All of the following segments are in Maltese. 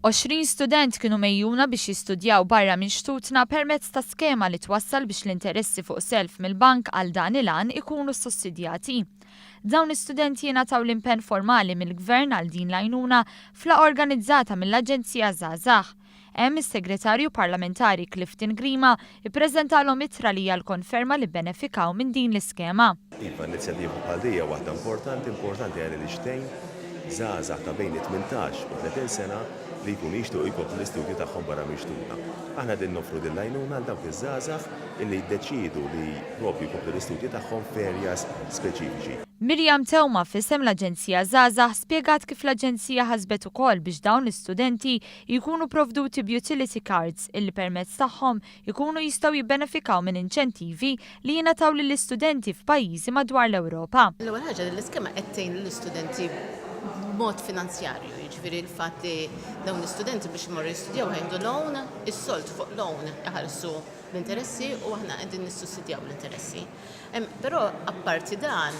20 student kienu mejjuna biex jistudjaw barra minn xtutna permezz ta' skema li twassal biex l-interessi fuq self mill-bank għal dan il-għan ikunu sussidjati. Dawn l-istudenti jingħataw l-impenn formali mill-Gvern għal din l-għajnuna f'la organizzata mill-Aġenzija Żgħażagħ. Hemm is-Segretarju Parlamentari Clifton Grima ppreżentalhom ittra li hija l-konferma li bbenefikaw minn din l-iskema. Iva, inizjattiva bħal din hija waħda importanti, importanti għaliex tgħin żgħażagħ ta' bejn it-tmintax u tletin sena li jkunu jixtiequ jkomplu l-istudji tagħhom barra minn xtutna. Aħna qegħdin noffru din l-għajnuna għal dawk iż-żgħażagħ illi jiddeċiedu li propju jkomplu l-istudji tagħhom f'areas speċifiċi. Miriam Theuma f'isem l-Aġenzija Żgħażagħ spjegat kif l-Aġenzija ħasbet ukoll biex dawn l-istudenti jkunu pprovduti b'utility cards illi permezz tagħhom ikunu jistgħu jibbenefikaw minn inċentivi li jingħataw lill-istudenti f'pajjiżi madwar l-Ewropa. L-ewwel ħaġa din l-iskema qed tgħin lill-istudenti b'mod finanzjarju, jiġifieri l-fatt li dawn l-istudenti biex imorru jistudjaw ħajħdu loan, is-sold fuq loan iħallsu l-interessi u aħna qegħdin nissussidjaw l-interessi. Hemm però apparti dan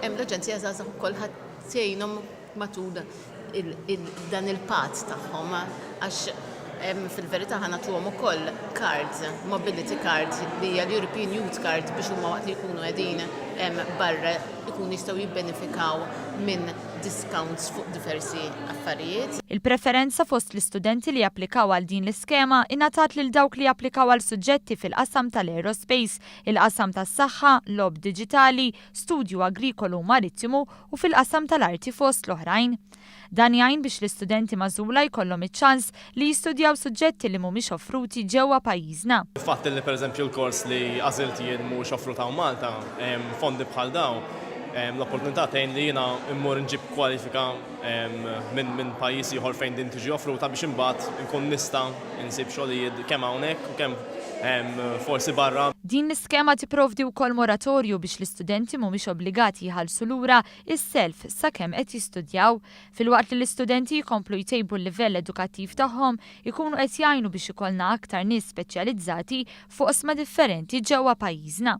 hemm l-Aġenzija Żgħażagħ ukoll ħadd tgħinhom matul dan il-patt tagħhom għax fil-verità ħa nagħtuhom ukoll card, mobility card li hija l-European Youth Card biex huma waqt li jkunu qegħdin barra jkunu jistgħu jibbenefikaw minn discounts fuq diversi affarijiet. Il-preferenza fost l-istudenti li japplikaw għal din l-iskema ingħatat lil dawk li japplikaw għal suġġetti fil-qasam tal-aerospace, il-qasam tas-saħħa, logħob diġitali, studju agrikolu u marittimu u fil-qasam tal-arti fost l-oħrajn. Dan jgħin biex l-istudenti magħżula jkollhom iċ-ċans li jistudjaw suġġetti li mhumiex offruti ġewwa pajjiżna. Il-fatt li pereżempju l-kors li għażilt jien mhuwiex offrut hawn Malta, fondi bħal dawn, l-opportunità tgħin li jiena mmur nġib kwalifika minn pajjiż ieħor fejn din tiġi offruta biex imbagħad inkun nista' insib xogħlijiet kemm hawnhekk u kemm hemm forsi barra. Din l-iskema tipprovdi wkoll moratorju biex l-istudenti mhumiex obbligati jħallsu lura s-self sakemm qed jistudjaw. Filwaqt li l-istudenti jkomplu jtejbu l-livell edukattiv tagħhom, ikunu qed jgħinu biex ikollna aktar nies speċjalizzati f'oqsma differenti ġewwa pajjiżna.